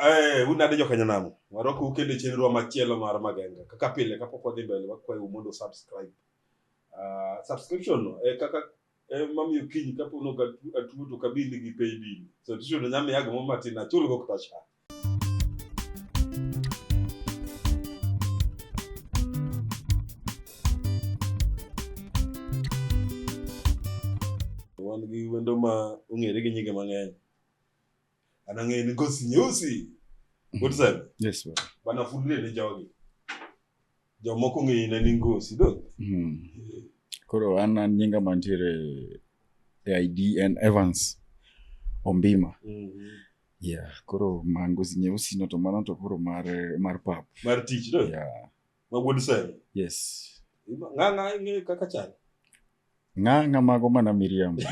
Eh, unade joka nyanamo warokou kendo e chenrowa machielo mar magenga kaka pile kapok wadhi mbele wakwayou mondo subscribe Ah, subscription no e kaka e mamiyo kiny kapo noga atuo to kabili gi pay bill subscription no nyamiya gimoro matin achulgo kata cha wan gi wendo ma ong'ere gi nyinge mang'eny anang'e ni gosi nyeusi what is that Yes, baba. bana fulre ne jogi jomoko ng'eyi ne ni ngosi do Mm. Koro an an nyinga mantiere e ID en Evans Ombima. Yeah, koro mangosi nyeusi no to mano to koro mar mar pap. mar tich do Yeah. ma wuod sani yes ng'ang'a ing'eyo kaka chal ng'ang'a mago mana miriambo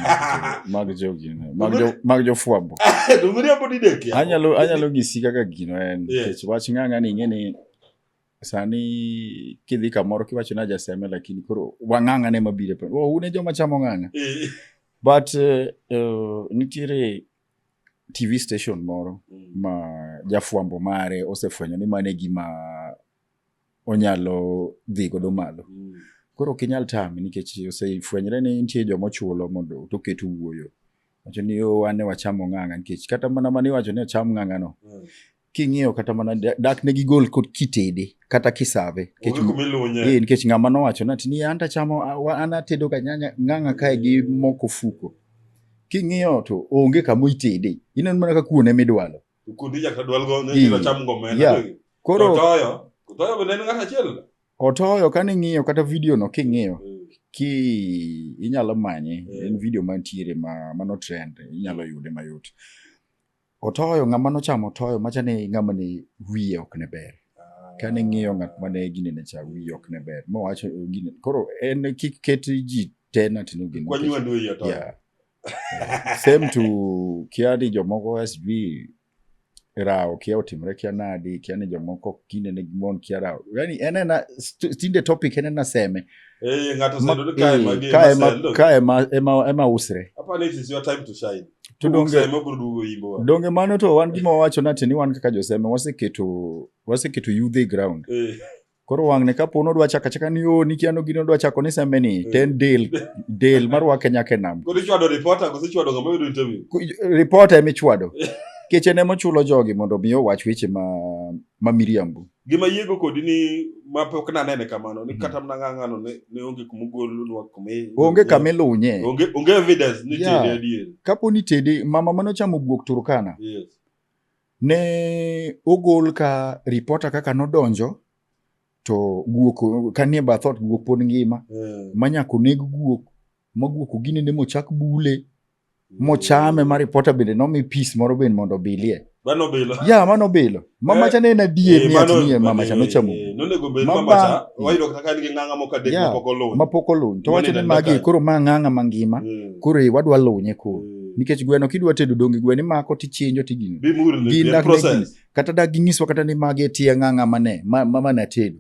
mag jogino mag jo mag jofwambo to miriambo didek ya anyalo anyalo nyisi kaka gino en Yeah. nikech wach ng'ang'a ni ing'e ni sani kidhi kamoro kiwacho ni ajaseme lakini koro wang'ang'a ne mabire pa oh, une joma chamo ng'ang'a Eh, but eh, eh, nitiere tv station moro mm, ma jafwambo mare osefwenyo ni mane gima onyalo dhi godo malo. Mm. Koro ok inyal tame nikech osefwenyre ni nitie joma ochulo mondo to oket wuoyo. Wacho ni yo wane wachamo ng'ang'a nikech kata mana mani wacho ni acham ng'ang'a no. Mm. King'iyo kata mana dak ne gigol kod kitede kata kisave. Eh, nikech ng'ama nowacho na ni an tachamo an atedo ga nyanya ng'ang'a kae gi moko fuko. King'iyo to onge kama itede. Ineno mana ka kuone midwalo. Kundi nyaka dwal go ne Ii. nyiro cham ngomena. Yeah. Yeah. Koro Koro toyo. Toyo bende en ng'at achiel. otoyo kane ing'iyo kata video no king'iyo Mm. ki inyalo manye Yeah. en video mantiere ma mano trend inyalo yude mayot otoyo ng'ama nochamo otoyo macha ni ng'ama ni wiye ok ne ber kane ing'iyo ng'at mane ginene cha wiye ok ne ber mowacho gine koro en kik ket ji tena tino gino Kwanyu andu ya toyo. Yeah. same to kia ni jomoko sb rawo kia otimre kia nadi kia ni jomoko kinde ne gimon kia rawo yani en ena tinde topic en ena seme eh ngato sendo ka ema eh, ka ema ka ema ema ema usre hapa ni is your time to shine to donge ema burugo imbo donge mano to wan gima wacho na tini wan kaka joseme waseketo waseketo youth ground eh Koro wang'ne ka po nodwa chaka chaka ni o nikia no gino dwa chako ni sembe ni mm. ten del del marwake nyaka e nam. Koro ichwado reporter kose chwado ng'ama yudo interview. Reporter ema ichwado. Keche ne mochulo jogi mondo mi owach weche ma ma miriambo. Gima yiego kodi ni ma pok na nene kamano ni mm. kata mna ng'ang'ano ne, ne onge kuma ogolunwa kuma onge kama ilunye onge, onge evidence ni yeah. tede adier kapo ni tede mama mano chamo guok Turkana yes. Ne ogol ka ripota kaka nodonjo to guok kanie bath ot guok pod ngima mm. ma nyaka oneg guok ma guok oginene mochak bule mm. mochame ma ripota bende nomi pis moro bende mondo obilie ya mano bilo mamacha ne en adier eh, ni atinie mamacha nochamo eh, mapok oluny to wacho ni magi koro ma ng'ang'a mangima mm. koro wadwa lunye koro nikech gweno kidwa tedo donge gweno imako tichinjo tigini kata dak ginyiswa kata ni magi e tieng' ang'a mane mamane atedo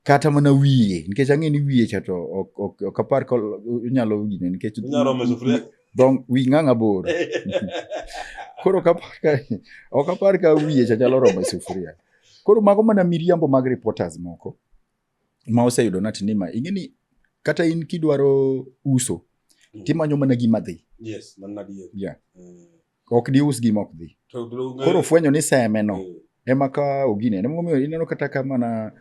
kata mana wiye nikech ang'e ni wiye cha to ok apar ka inyalo gine nikech dhong wi ng'ang'a bor koro ok apar ka wiye cha nyalo romo e sufuria koro mago mana miriambo mag reporters moko ma oseyudo nati ni ma ing'e ni kata in kidwaro uso mm. timanyo mana gima dhi yes, yeah. mm. ok dius gima ok dhi koro fwenyo ni seme no mm. ema ka ogine emomiyo ineno kata ka mana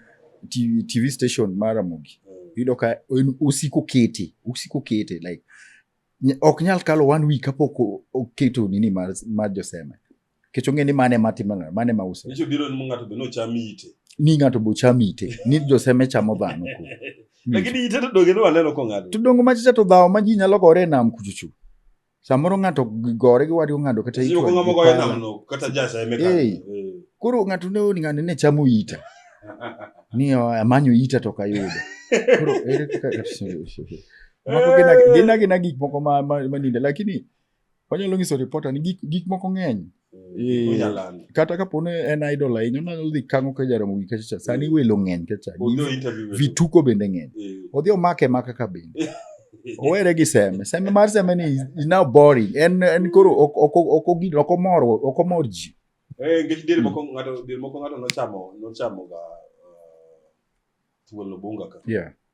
TV, TV station mara mogi mm. yudo ka usiko kete usiko kete like ok nyal kalo one week kapok oketo nini mar, mar joseme Nikech ong'e ni mano ema timo ng'ato, mano ema use. Nikech biro ni ng'ato be nocham ite. Ni ng'ato be ocham ite, ni joseme chamo dhano ku. Lakini ite to donge ni waneno kong'ado. To donge machicha to dhawo ma ji nyalo gore e nam kuchuchu. Samoro ng'ato gore gi wadi ong'ado kata ite. Sio ng'amo gore e nam no kata jasa eme ka. Eh. Koro ng'ato ne oni ng'ane ne chamo ita. Ni amanyo ita to kayudo. Koro ere kaka Mako gina gina gik moko ma ma ninde lakini wanyalo nyiso reporter ni gik, gik moko ng'eny Eh, Unyalani. kata kapo ni en idol ahinya onano odhi kango ka jaromo gi kachacha sani Eh. welo ng'eny kacha Odhi o interview wetu. vituko bende ng'eny Eh, odhi omake maka ka bende eh, owere gi seme seme mar seme ni is- is now boring en en koro ok ok ok ogin ok omor ok omor ji eh, nikech diere moko ng'ato diere moko ng'ato nochamo nochamo ga uh, thuol obunga ka yeah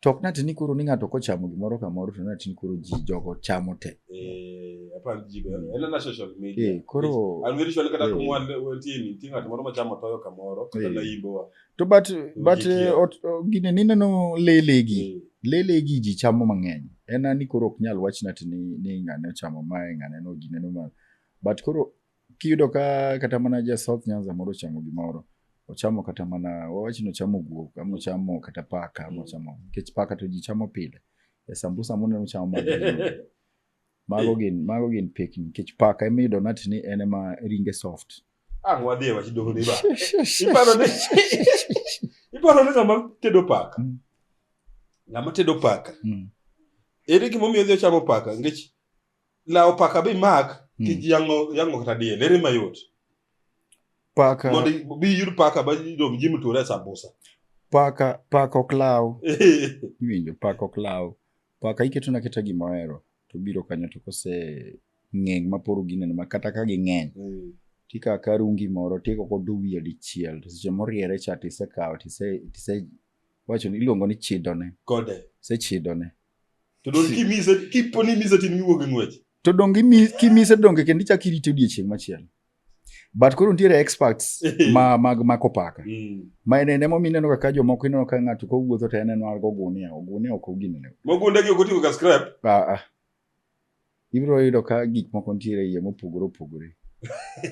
To ok natini koro ni ng'ato kochamo gimoro kamoro to natini koro ji jogo chamo te. Eh, apani ji be en ana social media. Eh, koro- An very sure kata eh. kumwan wantie ni nitie ng'at moro machamo toyo kamoro kata Eh. naimbo wa. To but, but Ji eh, kier. ot- o- gine nineno lelegi. Eh, Lelegi ji chamo mang'eny. En ani koro ok nyal wach natini ni ng'ane ochamo mae ng'ane no gineno ma. But koro Kiyudo ka kata mana ja South Nyanza moro ochamo gimoro, ochamo kata mana wawach ni ochamo guok, ama ochamo kata paka, ama ochamo nikech paka to ji chamo pile. E sambusa moneno chamo mago gin- mago gin mago gin pekni nikech paka ema iyudo nat ni en ema ringe soft. Ang' wadhi e wach doho ni ba. Iparo ni iparo ni ng'ama tedo paka. Mm. Ng'ama tedo paka. Mm. Ere gimomiyo odhi ochamo paka? Nikech lawo paka bi mak ki Hmm. yango yango kata diel ere mayot paka mondo i- bi yud paka ba dom ji mutore sambusa paka paka ok law iwinjo paka ok law paka iketo na keta gima ohero to biro kanyo to kose ng'eng ma poro gineno ma kata ka ging'eny Mm. tikawo ka rungi moro tigo kodo wiye dichiel to seche moriere cha tisekawo tise tise wacho ni iluongo ni chidone kode isechidone To donge kimise kipo ni imise tin miwuog e ng'wech. To donge kimise donge kendo ichak irite odiechieng' machielo. But koro nitiere experts ma mag mako paka. Mm. Ma en emo mineno kaka jomoko ineno ka ng'ato kowuotho to en en wargo gunia, ogunia ok oginene. Mogundegi ok oting'o ga scrap. Ah ah. Ibiro yudo ka gik moko nitiere iye mopogore opogore.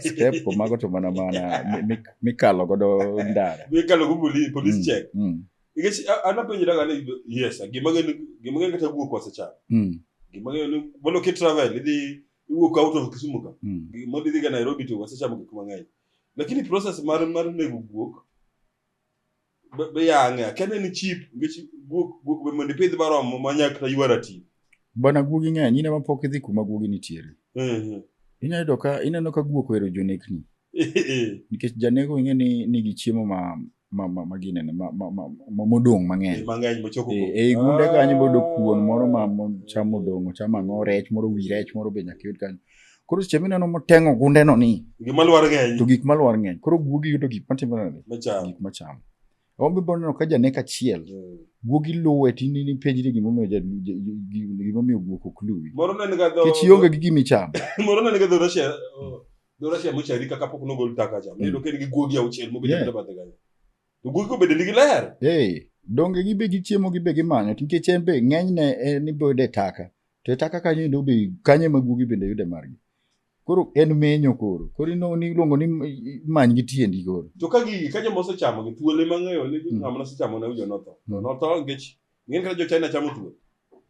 Step ko mago to mana mana mikalo godo ndara. Mikalo go police police mm, check. Mm. Nikech anapenjo daga ni yes, gima ng'e gima ng'e kata guok wasechano. Mm. Gima ng'e ni mondo ki travel idhi iwuok out of Kisumu ka. Mm. Gima idhi ga Nairobi to wasechamo gik mang'eny. Lakini process mar mar nego guok be yang'e akiani en chip nikech guok guok be mondo ipidh barom ma nya kata ywa ratil bana guogi ng'eny ineno pok idhi kuma guogi nitiere Mhm. inyalo yudo ka ineno ka guok ohero jonekni nikech janego ing'e ni nigi chiemo ma ma ma ma ginene ma ma ma ma- modong' mang'eny mang'eny mochoko E- ei gunde kanyo bodo kuon moro ma mo- cham odong' ocham ang'o rech moro wi rech moro be nyaka yud kanyo Koro seche mineno moteng'o gundeno ni gik malwar ng'eny to gik malwar ng'eny koro guogi yudo gik matimore nade gik machamo ombe bo neno ka janek achiel mm. guogi luwe tini ni penj ni gimomiyo gimomiyo guok ok luwi kech ionge gi gimi chamo moro nene ga dho Russia dho Russia mochari kaka pok nogol taka cha mm. neno ka en gi guogi auchiel mobedo yeah. bathe kanyo to guogi kobedo nigi ler hey donge gibe gichiemo gibe gimanyo nikech en be ng'enyne en eh, iboyude taka To eta kaka yendo be kanye ma guogi bende yude margi. Koro en menyo koro. Koro ino ni iluongo ni many gi tiendi koro. To ka gigi ka joma osechamo gi thuol ema ng'eyo ni mm. ng'ama nosechamo ne ujo notho. To mm. notho nikech ng'en kata jo China chamo thuol.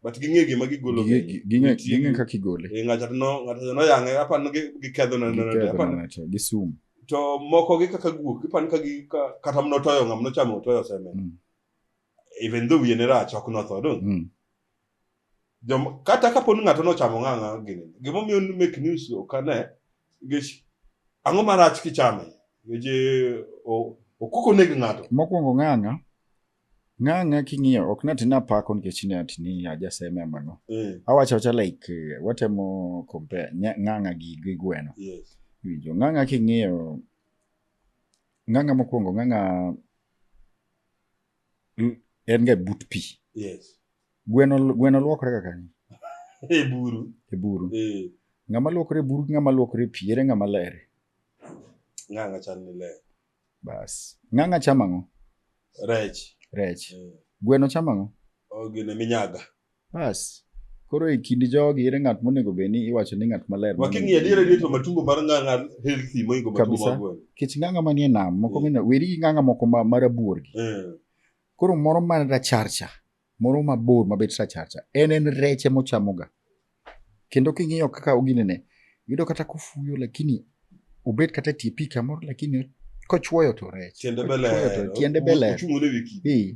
But ging'e gima gigolo. Ging'e kaka igole. Eh, ng'ato no ng'ato no yang'e apa no giketho na na apa. Gi sum. To moko gi kaka guok ipan ka gi kata mno toyo ng'ama nochamo toyo seme. Mm. Even though wiye ne rach ok notho dong. Jom, kata kapo ni ng'ato nochamo ng'ang'a gini gimomiyo ni make news ok ane nikech ang'o marach kichame nikech eh, o- okok oneg ng'ato Mokwongo ng'ang'a, ng'ang'a king'iyo ok nati napako nikech ne ati ni ajaseme amang'o. Eh, Awacho acha like eh, watemo compare nya- ng'ang'a gi gi gweno. yes. Winjo ng'ang'a king'iyo ng'ang'a mokwongo ng'ang'a Mm. en ga but pi yes gweno gweno luokore ga kanye e buru e buru eh ng'ama luokore e buru gi ng'ama luokore e pi ere ng'ama lere ng'anga chal ni le bas ng'anga chamo ang'o rech rech eh gweno chamo ang'o o gine minyaga Bas. Koro e kind jogi ere ng'at monego bed ni iwacho ni ng'at maler ma Waking'iyo adiera ni to matumbo mar ng'ang'a healthy moingo matumbo Kabisa. mag gweno. kech ng'anga manie nam moko Mm. ng'eny weri gi ng'anga moko ma- marabuor gi Eh. koro moro ma racharcha moro mabor mabet racharcha en en rech ema ochamoga kendo king'iyo kaka oginene yudo kata kofuyo lakini obet kata tie pi kamoro lakini kochuoyo to rech Tiende be Kochuoyo to ler. tiende be ler Ochung' ne wiki. Eh,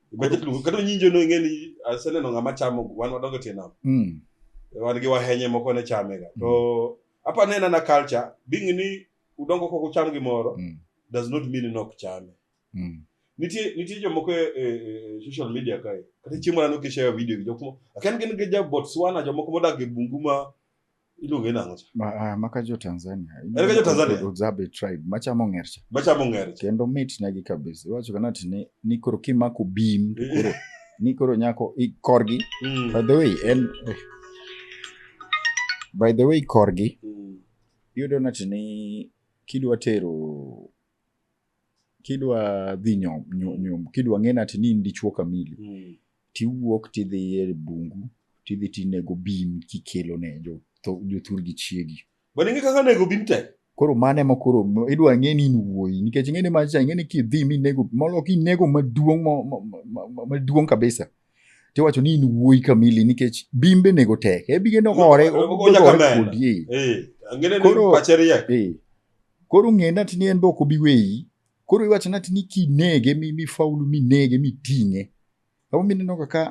Kata luongo- kata onyinjo no ing'e ni aseneno ng'ama chamo wan wadongo tie nam Mm. wan gi wahenye moko ne chamega to apa nena na culture being ni udongo kok ucham gimoro Mm. does not mean ni ok chame Mm. nitie nitie jomoko e, e, e social media kae kata chieng' moro aneno kishare video gi jomoko akia ni gin gi ja Botswana jomoko modak e bungu ma iluonge nang'o cha Ma- ah, maka jo tanzania Ere ka jo Tanzania? udzabe tribe machamo ng'ercha machamo ng'ere cha kendo mit negi kabisa iwacho kana ti ni, ni koro kimako bim to koro ni koro nyako i- korgi Mm. by the way en eh. by the way korgi Mm. iyudo nati ni kidwa tero kidwa dhi nyom, nyo- nyom kidwa ng'e nati ni in dichuo kamili Mm. tiwuok tidhi e bungu tidhi tinego bim kikelo ne jo- tho- jothur gi chiegi Bwana ing'e kaka nego bim tek. koro mane ma koro m- idwa ng'e ni in wuoyi nikech ing'e ni macha ing'e ni kidhi minego molo kinego maduong' ma- ma- ma- ma- maduong' kabisa tiwacho ni in wuoyi kamili nikech bimbe nego tek ebige nogore Onya obigore kamera. kodi eh. Eh, ang'e ni Koro- pache riek. Eh, Koro ng'e nati ni en be ok obi weyi. Koro iwacho nati ni kinege mi mi faulu mi nege mi ting'e. Abo mi neno kaka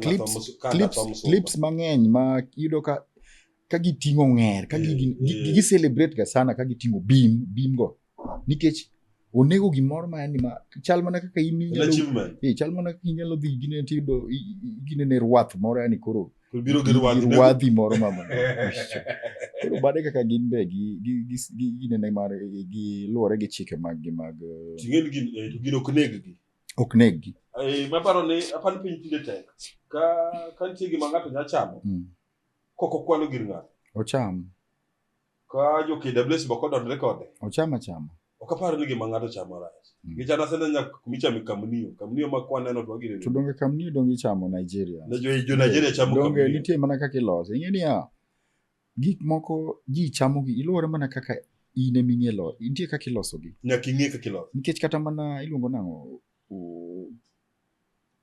clips clips clips mang'eny ma yudo ka ka giting'o ng'er ka gi gi celebrate ga sana ka giting'o bim bim go nikech onego gimoro ma yani ma chal mana kaka in En inyalo achievement. eh, chal mana kaka inyalo dhi gine tido gine ne rwath moro yani koro Biro gi rwadhi. rwadhi moro ma ma- koro bade kaka gin be gi gi gi- gi gine ne mar eh, gi luwore gi chike mag gi mag eh, Ting'en gin eh, to gin ok neg gi. ok neg gi Eh, maparo ni apani piny tinde tek. Ka ka nitie gima ng'ato nya chamo, Mm. kok okwano gir ng'ato. ocham Ka jo KWS be ok odondre kode. Ochama chama. Ok apar ni gima ng'ato chamo rach. Mm. Nikech an asene nya kumichame kamnio. Kamnio ma kwaneno to wagire. To donge kamnio donge ichamo Nigeria? Ne jo jo Nigeria chamo kamnio. Donge nitie mana kaka ilose. Ing'e niya, gik moko ji chamogi iluwore mana kaka in ema ing'e lo nitie kaka ilosogi. Nyaka ing'e kaka iloso. Nikech kata mana iluongo nang'o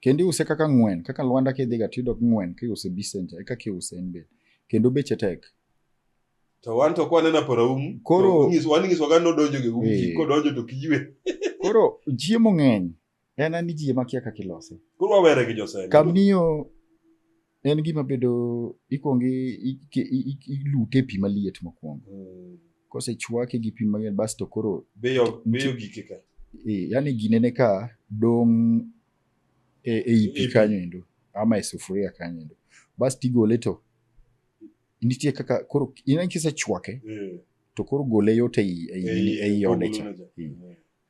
Kendo iuse kaka ng'wen, kaka lwanda kidhiga to iyudo ng'wen kiuse e Bisenja, e kaka iuse en be. Kendo beche tek. To wan to kwaneno apora umu, Koro- to wan ing'isoga ni odonjo gi umu, Eh. ji kodonjo to kijwe. Koro chiemo ng'eny, en an ni ji ema kia kaka ilose. Koro wawere gi Josenge. Kamnio En gima bedo ikwongo ilute e pi maliet mokwongo. Mm. Kosechwake gi pi mang'eny basto koro beyo beyo gike ka. Eh, yani ginene ka dong' e, e i pi kanyo endo ama e sufuria kanyo endo. Basto igole to nitie kaka koro ineno kisechwake eh. to koro gole yot e i e i e ode cha.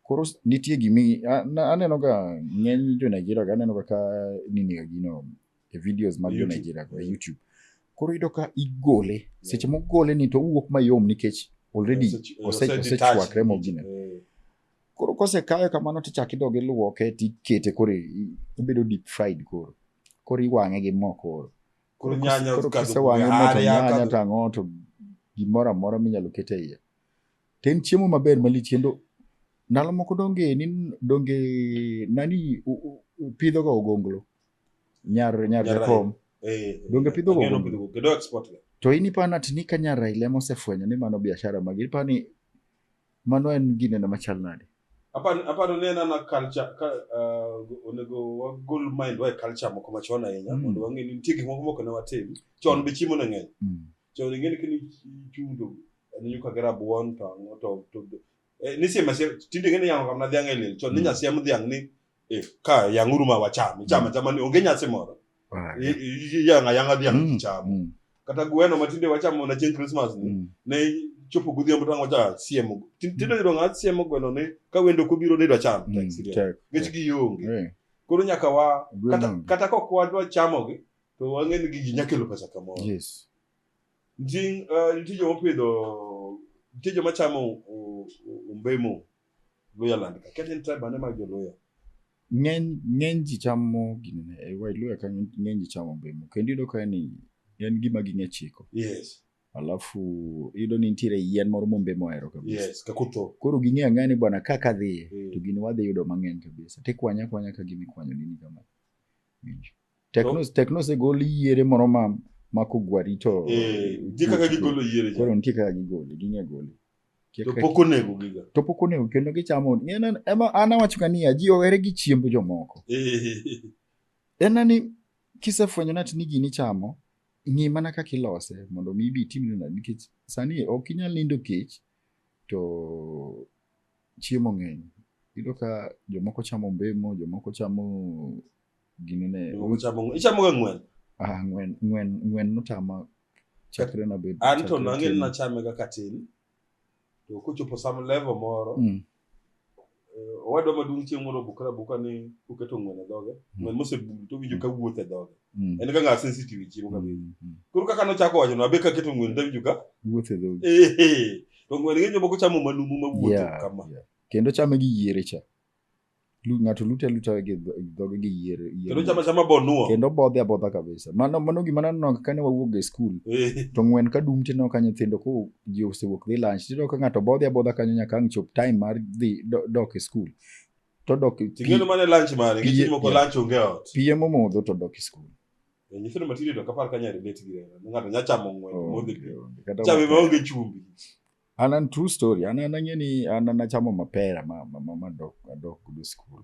Koro s- nitie gimi a- na- aneno ga ng'eny jo Nigeria ga aneno ga ka nini ga gino e videos mag jo YouTube. Nigeria go e YouTube. Koro iyudo ka igole seche mogole ni to owuok mayom nikech already Ose- ose- ose- osechwakre detach. mogine. Eh, Koro kosekayo kamano tichak idog iluoke tikete koro i- i- obedo deep fried koro. Koro iwang'e gi mo koro. Koro nyanya koro kadho kisewang'e kume, mo to arya nyanya kadho- to ang'o to gimoro amora minyalo ket e iye. To en chiemo maber malich kendo ndalo moko donge ni donge nani pidho ga ogonglo nyar nyar jakom eh, donge pidho ga ogonglo kendo export ga to ini pa nat ni kanya raile mo se fwenyo ni mano biashara magi ni pa ni mano en gine na machal nade apa apa no nena na culture ka uh, onego wa gol mind wa culture moko machon ahinya mm. mondo wang'e ni nitie gik moko moko ne watim chon mm. be chiemo ne ng'eny mm. chon ing'e ni kini chudo en nyuka gi rabuon to ang'o to to eh, ni siem asiem tinde ing'e ni yang'o kamna dhiang' e liel chon ni Mm. nyasiem dhiang' ni eh, ka yang'uru ma wacham icham achama ni onge nyasi moro Right. I- i- iyang'a yang'a dhiang' Mm, icham mm, kata gweno ma tinde wachamo na chieng' Christmas ni mm. ne chopo godhiambo to ang'o cha siemo Ti- tinde yudo ng'a siemo gweno ni ka wendo kobiro ni idwa cham Mm, tek. nikech gionge Eh, koro nyaka wa Gweno kata, onge. kata kok wadwa chamogi to wang'e ni gigi nyakelo pesa kamoro yes Njing, uh, nitie joma opidho nitie joma chamo u- u- u- umbemo luya land ka kata en tribe ane mag joluya ng'eny ng'eny ji chamo gini ne e wailuya ka ng'eny ji chamo mbemo kendo iyudo ka ni en gima ging'e chiko yes alafu iyudo ni nitiere yien moro mombemo ohero kabisa yes kakutho koro ging'e ang'e ni bwana ka kadhiye Mm. to gini wadhi yudo mang'eny kabisa tikwanya kwanya ka gini kwanyo nini kama Winjo. Tekno tekno osegol yiere moro ma ma kogwari to Eh, nitie kaka gigolo yiere koro cha. nitie kaka gigole ging'e gole. Nitie To kaka- pok onego giga. to pok onego kendo gichamo ng'e na- ema an awacho ka niya ji ohere gi chiemb jomoko Eh, en na ni kisefwenyo nati ni gini chamo ng'i mana kaka ilose mondo mi ibi itimne nade nikech sani ok inyal nindo kech to chiemo ng'eny yudo ka jomoko chamo mbemo jomoko chamo gini ne Iluongo uch- chamo ng'wen. Ichamoga ng'wen? ah, ng'wen ng'wen ng'wen notama chakre nabed An to chakre nang'e ni tin. nachame ga katin. To kochopo some level moro, Mm, eh, owadwa maduong' chieng' moro obukra abuka ni oketo ng'wen e dhoge. Ng'wen mosebul to owinjo ka wuotho e dhoge. mm, En ga ng'a sensitive e chiemo kabisa. mm, mm. Koro kaka nochako wacho, nabe kaketo ng'wen to awinjo ka wuotho e dhogi Ehe. To ng'wen ng'eny jomoko chamo manumu mawuotho Yeah, kama. yeah. kendo chame gi yiere cha Lu- ng'ato lute aluta gi dho- gi dhoge gi yier yier. kendo chama chama bonuo kendo bodhe abodha kabisa mano mano gima naneno kane wawuok e skul Eh, to ng'wen ka dum tineno ka nyithindo ko ji osewuok dhi lunch tineno ka ng'ato bodhi abodha kanyo nyaka ang' chop time mar dhi do- dok e skul to dok ting'eno mane lunch mare Pie- nikech moko yeah. lunch onge ot pie momodho to dok e skul Eh, nyithindo matindo to kapar kanya relate gi hera ng'ato nya chamo ng'wen modhi pi. Onge, onge. Kata chame wacho- maonge chumbi An an true story. An an ang'e ni an an achamo mapera ma ma ma ma dok adok kudo school.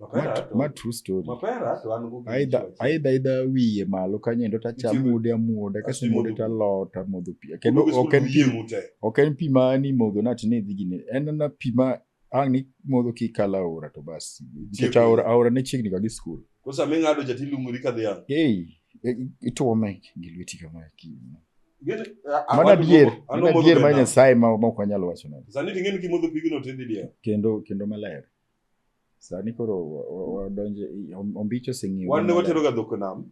Ma, Mapera to- ma true story. mapera to an go Aidha aidha aidha wiye malo kanyo endo tachamo Itimo- mude amuoda kaso Achimo mude mude. talot amodho pi. Kendo ok en pi ok en pi ma ni modho nati ni dhi gine. En na pi ma ang' ni modho kikalo aora to bas nikech aora, aora ne chiegni ga gi skul Koro sama ing'ado cha tilungori ka dhiang'. ei e- ituome gi lweti kama ki- Gin- a- a- mano wadu adier moko- ano mano modho adier be ma nam. nyasaye ma ma ok wanyal wacho nade Sani to ing'eni kimodho pigno to idhi diel. kendo kendo maler sani koro wa- wa- wadonje i- om- ombicho oseng'iyo Wan ne watero ga dhok e nam.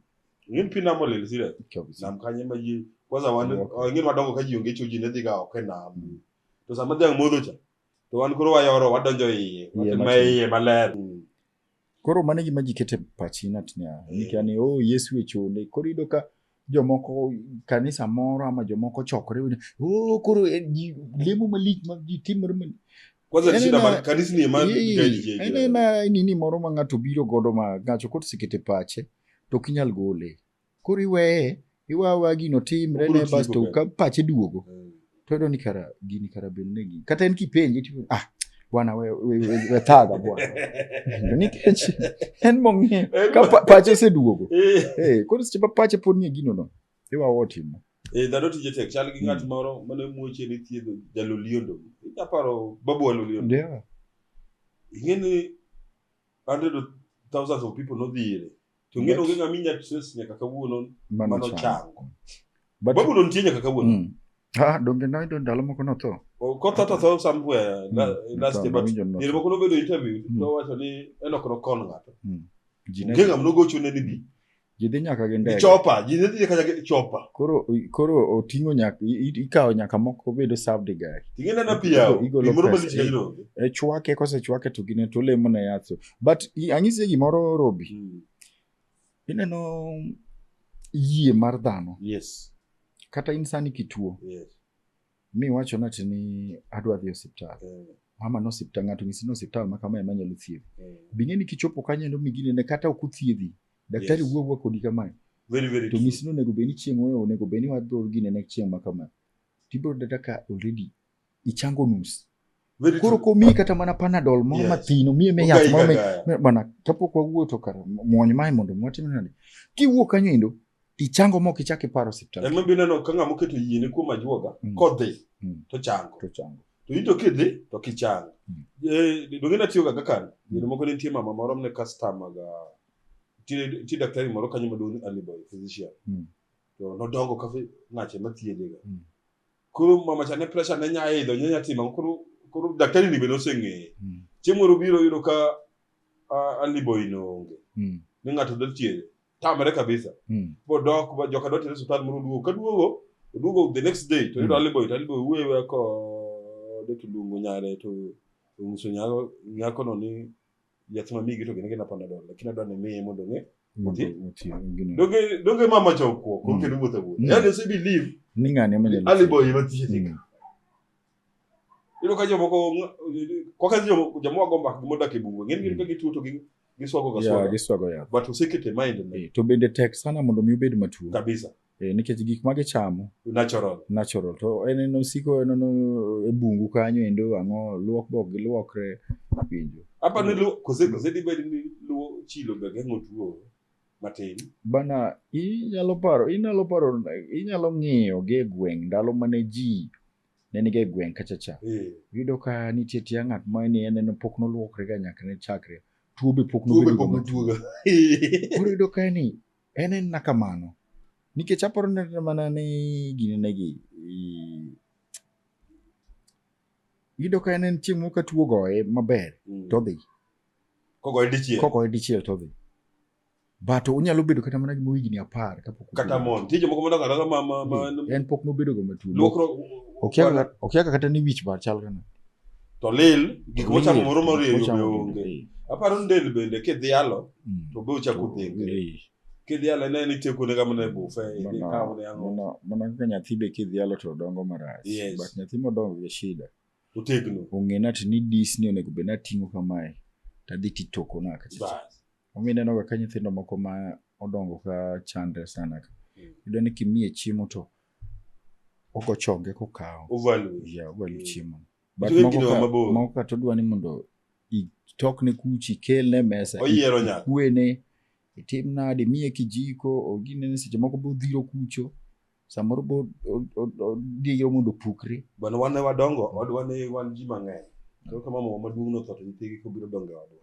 Ing'eni pi nam olil sire. Nam kanye ma ji kwanza wan Ok. ing'eni wadongo ka ji onge cho ji ne dhi ga oko e nam. To sama dhiang' modho cha to wan koro wayoro wadonjo iye ma iye maler hmm. koro mano gima ji kete pachi natnia nikia ni o oh, yesu e chole koro yudo ka jomoko kanisa moro ama jomoko chokore o oh, koro eh, lemo malich ma ji timore nini moro ma ng'ato biro godo ma ng'acho koto sikete pache to ok inyal gole koro iweye iwawa gino timre ne basto ka pache duogo eh. to yudo ni kara gini kara bed ne gini kata en kipenje tipo ah bwana we we we thaga bwana nikech en mong'e ka pache oseduogo eh. eh koro seche ma pache pod nie gino no iwawa otimo eh dhano tije tek chal gi ng'at hmm. moro mane muoche ni thiedho jaloliondo aparo babu waloliondo yeah ing'e ni hundred of thousands of people nodhi ire To ng'eyo onge ng'ama inya trace nyaka kawuono mano mano chango. But- Babulo nitie nyaka kawuono. Mm. Ah, donge noyudo ndalo moko notho O- Kotho to tho somewhere la- Mm, last year, tho, but nawinjo ni diere notho. moko nobedo interview Mm. to wacho ni Enoch nokon ng'ato. Ji ne- Onge ng'ama nogochone ni bi. ji dhi nyaka gi Ni ndege chopa, ji ne dhi kata gi chopa. koro koro oting'o nyaka i- i- ikawo nyaka moko obedo served guy Ting'e nena pi yawo. Igolo Pi moro pesa, malich eh. kajno. e chwake kosechwake to gine to olemo ne yath but anyisie gimoro robi mm. ineno yie mar dhano yes. kata in sani kituo yes. mi wacho nati ni adwa dhi osiptal yeah. mama no osiptal ng'ato nyisi ni osiptal ma kama ema nyalo thiedhi yeah. bing'e ni kichopo kanyo endo miginene kata ok uthiedhi daktari yes. wuowuo kodi kamae very, very to nyisi ni onego bed ni chieng' onego bed ni wadhor ginene chieng' ma kama tibiro dada ka already ichango nus Very koro true. komiyi kata mana panadol moro Yes. mathino miye me yath Ogai moro me- gaga. me- bana kapok wawuo to kar muony mae mondo mwatim nade kiwuok kanyo endo tichango mok ichak iparo osiptal En mabiro neno ka ng'ama oketo yiene kuom ajuoga Mm. kodhi Mm. to chango. to chango To in to kidhi to kichango. Mm. Eh, donge natiyoga ga kani. Yore moko ne nitie mama moro mne customer ga nitie nitie daktari moro kanyo maduong' ni Aliboy physician. Mm. To nodongo ka fi- ng'ache mathiedhe ga. Mm. koro mama cha ne pressure ne nya idho nya tima koro koro daktari ni be noseng'eye Mm. chieng' moro biro yudo ka a- aliboi noonge Mm. ni ng'ato dwa thiedhe tamre kabisa Mm. bodok ba- joka dwa tere osiptal moro oduogo kaduogo oduogo the next day to yudo Mm. aliboi to aliboi wuewe kode to luongo nyare to onyiso nyako- nyakono ni yath ma migi to gin gina panadol lakini adwa ni miye mondo ng'e Mondo Oti? oti gini. donge donge mama cha okuo Mm. konke ni wuotho Mm. wuotho yani ose believe Ni ng'ani ema nyalo. ali boy ma tije tika Mm. ilo ka jomoko koka jomoko jomoko go mbak modak e bungu ng'en gin Mm. ka gituo to gi giswago ga Yeah, swaga giswago yath. but osekete mind ne Eh, To bende tek sana mondo mi obed matuo. kabisa Eh, nikech gik ma gichamo natural natural to en en osiko en en e bungu kanyo endo ang'o luok bok giluokre winjo apa ni luo kose kose di bed ni luo chilo be geng'o tuo matin bana inyalo paro inyalo paro inyalo ng'iyo gi e gweng' ndalo mane ji ne niga e gweng' kacha cha eh yudo ka nitie tia ng'at ma ni en en pok noluokre ga nyaka ne chakre tuo be pok tuo be nobedo pok ga tuo ga koro yudo ka ni En en na kamano. Nikech aparo ni kata mana ni gini negi i- iyudo ka en en chieng' moro ka tuo goye maber Mm. todhi. Kogoye dichiel. Kogoye dichiel todhi. But onyalo bedo kata mana gima higni apar kapok otuo. Kata mon. Tije moko madongo adongo ma ma ma En pok nobedo ga matuo. luokro. Okiaga okiaga kata ni wich bar chal kana. to lil gik mochamo moro morieyo be onge aparo ni del bende kidhialo mm. to be ochako dhengre kidhialo ene ni tieko nega mana e bufe ikawo ne ang'o mana kaka nyathi be kidhialo to dongo marach but nyathi modongo gi shida otegno ong'e nati ni dis ni onego bed nating'o kamae tadhi titoko na kacha omiyo ineno ga ka nyithindo moko ma odongo ka chandre sana ka mm. iyudo ni kimiye chiemo to ogo chonge kokawo Overload. yeah, ovalu Mm. chiemo But Nitie moko kido ka- mabor. moko kata odwa ni mondo itokne kuchi kelne mesa Oyiero nyaka. kwene itim nade miye kijiko oginene seche moko bodhiro kucho samoro bo- o- o- odiro mondo opukre Bwana wan ne wadongo, odwa ne wan ji mang'eny. Koro kama mama maduong' notho to nyithigi kobiro dongo e odwa.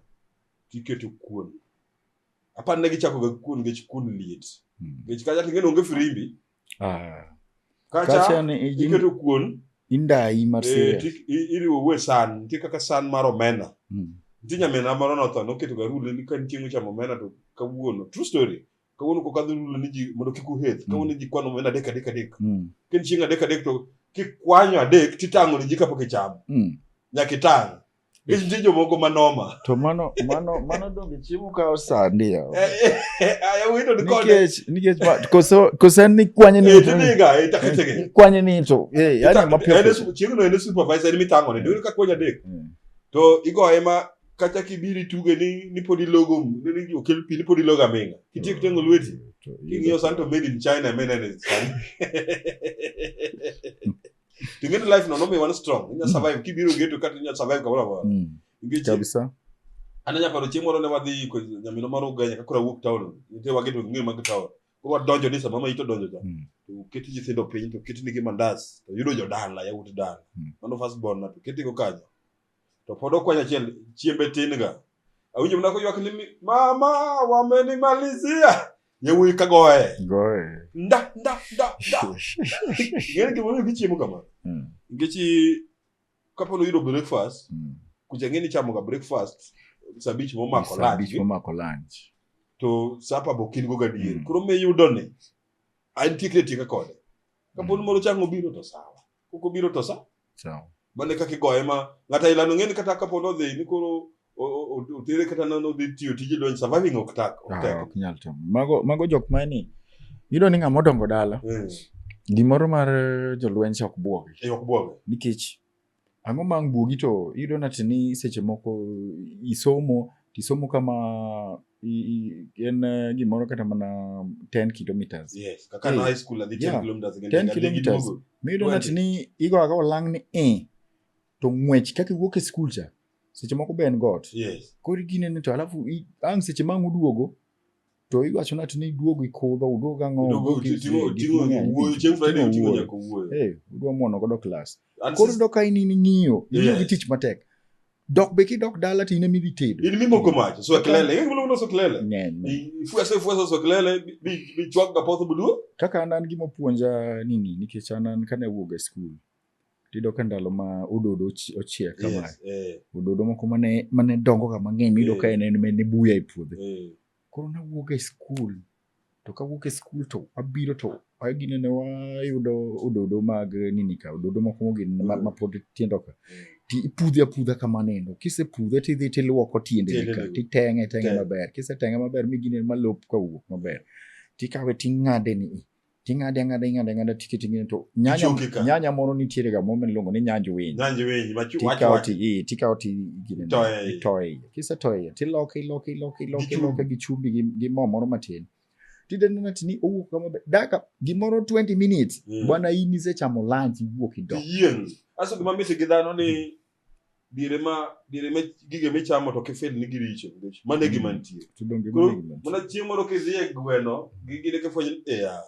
Tiketo kuon. Apani ne gichakoga kuon nikech kuon liet. Mm. Nikech kacha king'e ni onge firimbi, Ah. Kacha ni ijin- iketo kuon Indai mar eh, serious. ti- i- iriwo uwe san nitie kaka san mar omena Mm. nitie nyamina moro notho noketo ga rule ni ka nitie mochamo omena to kawuono true story kawuono kok adhi rule ni ji mondo kik uheth kawuono ji kwano omena adek adek adek Mm. ken chieng adek adek to kikwanyo adek titang'o ni ji kapok ichamo Mm. nyaka itang' Gin nitie jomoko ma noma. To mano mano mano donge chiemo kawo sandi ya. Eh, eh, eh, aya wito ni kode. Nikech nikech ma koso koso ni kwanye ni. Eh, ni ga eh taketege. Kwanye ni to. Eh, yani mapio. Ene chiemo no ene supervisor ni mitango ne. Dole ka kwanya dek. Mm. To igo ema kata kibiri tuge ni ni podi logo ni okel pi ni podi logo amenga. Kitiek tengo lweti. Mm, King'iyo santo made in China mena ne. to get life no nomi one strong inya survive kibiro geto kata inya survive kamoro amora Mm. nikech Kabisa. an anya paro chieng' moro ne wadhi ko nyamino mar uganya ka koro awuok town nitie wageto ng'eyo mag town koro wadonjo ni sama ma ito donjo cha Mm. to keti nyithindo piny to ketinigi mandas to yudo jodala yawuot dala Mm. mano first born na to ketigo kanyo to pod okwanya achiel chiembe tin ga awinjo mana koywak ni mi- mama wamenimalizia yawuoyi ka goye Goye. nda nda nda nda ng'eni gimomiyo gichiemo kamano Mm, nikech i- kapo noyudo breakfast mm. kucha ng'eni ichamoga breakfast saa abich momako Saa abich lunch momako lunch. to sapa be okin go gadier Mm. koro miyudo ni antie kre tieka kode kapo ni moro chang obiro to sawa koko biro to sa mane kaka igoye ma ng'ata ilano ng'eni kata kapo nodhi ni koro otere kata nodhi tiyo tije donj surviving ok tak ok ah, tek ok nyal timo mago mago jok ma ni yudo ni ng'ama odongo dala hmm. gimoro mar jolweny se ok buogi eh, ok buogi nikech ang'o ma buogi to yudo nati ni seche moko isomo tisomo kama i- i- en eh, gimoro kata mana 10 kilometers yes kaka na Eh, high school adhi 10 yeah. kilometers again 10 adhi gi kilometers. duogo. miyudo Wendi. ng'at ni igo aga olang ni e to ng'wech kaka iwuok e skul cha seche moko be en got yes koro iginene to alafu i- ang' seche mang' uduogo to iwacho nati ni iduogo ikudho uduogo ang'o Duogo, uduogo gi- tingo gi- tingo gi- wuoyo chieng' friday tingo otingo wuoyo. nyaka wuoyo Eh, udwa mwono godo klas And koro sis- ndo ka in in ing'iyo ing'iyo gi Yes. tich matek Dok be ki dok dala tine mi bitedo. In mimo komacho, so kelele, in mimo so kelele. Nyen. Fuese fuese so kelele bi bi chwak ga potho budu. Kaka an gimo puonja nini nikech an an kane wuog e skul. Tido ka ndalo ma ododo ochiek kama. Yes, eh. Ododo moko mane mane dongo ga mang'eny mido eh. ka en en ne buya e puodho. Eh. Koro na wuog e skul. to kawuok e skul to wabiro to wagine ne wayudo ododo mag nini ka ododo moko mogin ma- mapod tindo ka ti ipudhe apudha kamano endo kisepudhe tidhi tiluoko tiende Tiende ka lego. titeng'e teng'e Teng'. maber kiseteng'e maber migine malop kawuok maber tikawe ting'ade ni i ting'ade ang'ada ing'ade ang'ada tikete ngine to nyanya, Ichoke ka. nyanya moro nitiere ga moro miluongo ni nyanj winy Nyanji wenyi machu wacho tikawo wacho. ti- eh, tikawo ti gine- Itoye iye. itoye iye. kisetoye iye tiloke iloke iloke iloke Gi iloke gi chumbi gi gi mo moro matin tidenena tini owuok kama ber. daka gimoro 20 minutes Mm. bwana in isechamo lunch iwuok idok Iyieng'. Aso gima mit gi dhano ni dire ma dire ma gige michamo to kifil ni giricho nikech mano e gima nitie To donge Koro, mano gima nitie? mana chieng' moro kidhi e gweno gi gine kifwenyo ni eya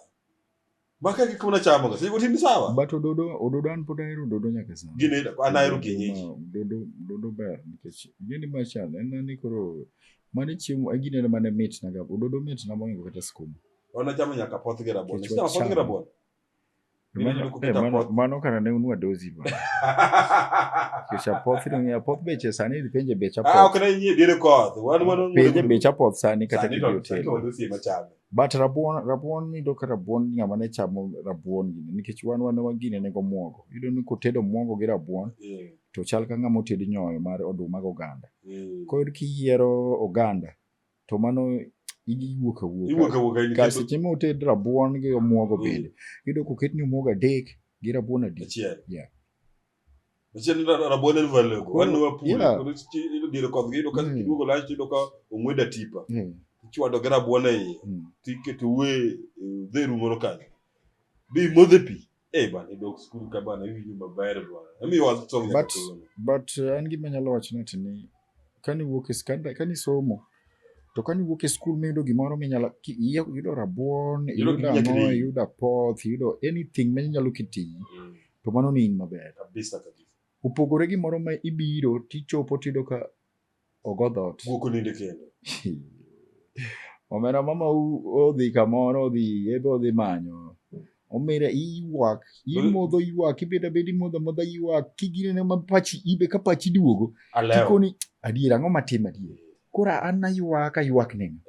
ma ka gik munachamoga seche gotindo sawa But ododo ododo an pod ahero ododo nyaka sani. gine an ahero kienyeji Ma- Dodo dodo ber nikech gini machal en ani koro mane chiemo e gine mane mit na ga ododo mit na moingo kata skuma. wanachamo nyaka poth gi rabuon Nikech Ichamo poth gi wachamo. rabuon mano kana ne unua dozi ba kichapoth ni apoth beche sani idhi penje bech apoth ah, ok ne nyie dire koth wan wan penje bech apoth sani kata ki hotel but rabuon rabuon ni do ka rabuon ngama ne chamo rabuon gini nikech wan wan wan gini ne go muogo yudo ni kotedo muogo gi rabuon yeah. to chal ka ngama oted nyoyo mar oduma go ganda yeah. kod kiyiero oganda to mano iwuok awuoka seche ma oted rabuon gi omuogo mm. bende iyudo koketni omuogo adek gi rabuon adek Machien rabuon en value go. Wan wa pule. Koro ido dire kodgi ido ka mm. iduogo lach ido ka ong'weda tipa. Mm. Ichwado gi rabuon e iye. Tiketo we dheru moro kanyo. Bi modhe pi. Eh bana idok skul ka bana iwinjo maber bana. Emi was song ya But katulona. but uh, an gima nyalo wacho ni tini kani wuok e skanda kani somo to kani wuok e skul miyudo gimoro minyalo ki- iya- yudo rabuon Yudo yudo gima ang'o nyakini. yudo apoth yudo anything ma inyalo kitiyi Mm, to mano ni in maber Kabisa kabisa. opogore gi moro ma ibiro tichopo tiyudo ka ogo dhot. Guok oninde kendo. Omera mama odhi kamoro odhi ebe odhi manyo. Omera iywak, imodho iywak, ibedo abeda imodho amodha iywak, kiginene ma pachi ibe ka pachi duogo. Alewo. Kikoni adier ang'o matim adier. Koro an aywak aywak nini.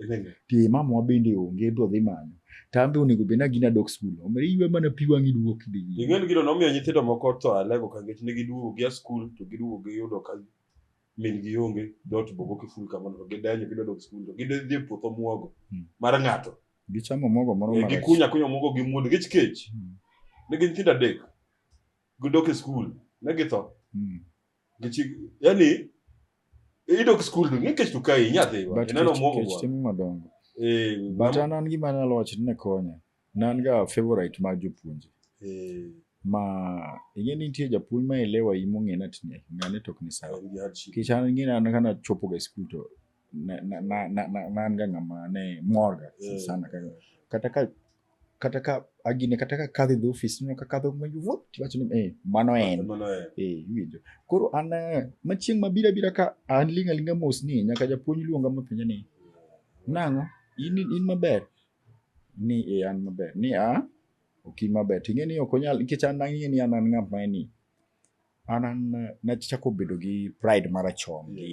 Ti mama wa bende onge ebe odhi manyo. Tambe onego bed nagina dok skul. Omera iywe mana pi wang' iduok idhi. Ing'eni gino nomiyo nyithindo moko tho alego ka nikech ne giduogo gia skul to giduogo giyudo ka min gi onge dot bogo kiful kamano to gidenyo gidwa dok skul to gidhi e puoth omuogo hmm. mar ng'ato gichamo omuogo moro eh, marach gikunya kunya omuogo gi muodo gich kech hmm. ne gin nyithindo adek gidok e skul ne githo hmm. gichi yani idok skul to ng'e kech to kae inyathi ineno omuogo go eh, but an an gima anyalo wacho ni ne konya Ne an ga favorite mar jopuonje. Eh, Ma ing'e ni nitie japuonj ma elewa yi mong'e na tine, ng'ane tok ni sawa. and you had shit. Kech an ing'e na an kana chopo ga e skul to na na na na na- na an ga ng'ama ne mor ga Eh. sana ka kata ka kata ka agine kata ka kadho e dho ofis nino ka kadho ma yuvo tiwacho ni eh mano en Mano en. eh iwinjo koro an eh, ma chieng' mabiro abira ka an ling' alinga mos ni nyaka japuonj luonga mapenja ni nang'o in in maber ni e an maber ni a ok in maber to ing'e ni ok onyal nikech an ang'e ni an an ng'at ma ni an an nachako bedo gi pride marachon gi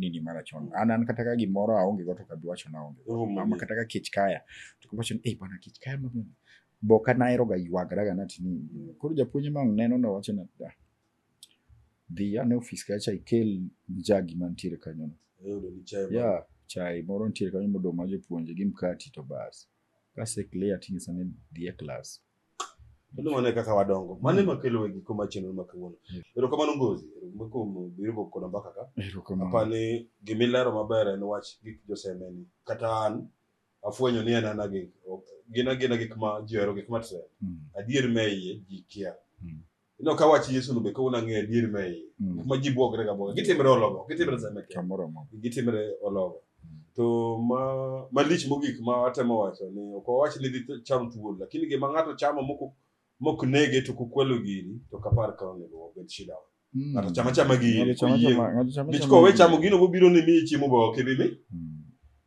nini marachon an an kata ka gimoro aonge go to kabi wacho na aonge go. Romo ama gi- kata ka kech kaya to kabi wacho ni ei bana kech kaya maber boka nahero ga ywagara ga nati ni koro japuonj ma neno na wacho na "Ah, dhi ane ofis kacha ikel jagi mantiere kanyono ya chai moro nitiere kanyo modong' ma jopuonje gi mkati to bas kase clear tinyisa ni dhi e klas Kendo mano e kaka wadongo. Mano ema kelo e giko mar chenro ma kawuono. Erokamano Ngozi. Erokamano kuom biro go koda mbaka ka. erokamano Apa ni gima ilero maber en wach gik josemeni. Kata an afwenyo ni en ana gik gin agina gik ma ji ohero gik ma trend. Mm, Adier me iye ji kia. Mm. Ino ka wach Yesu no be ka una ng'eyo adier ma iye. Mm. Kuma ji bwogre ga bwoga. Gitimre ologo. Gitimre sama kende. Kamoro amora. Gitimre ologo. To ma malich mogik ma atemo wacho ni ok wawach ni dhi cham thuol lakini gima ng'ato chamo mok mok nege to kukwelo gini to kapar ka onego obed shida. Mm. Ng'ato chama chama gini. Ng'ato chama Oyie. chama- ng'ato chama Nikech chama kowe gini. chamo gino mobiro ni miye chiemo ba ok ibi mi. Mm.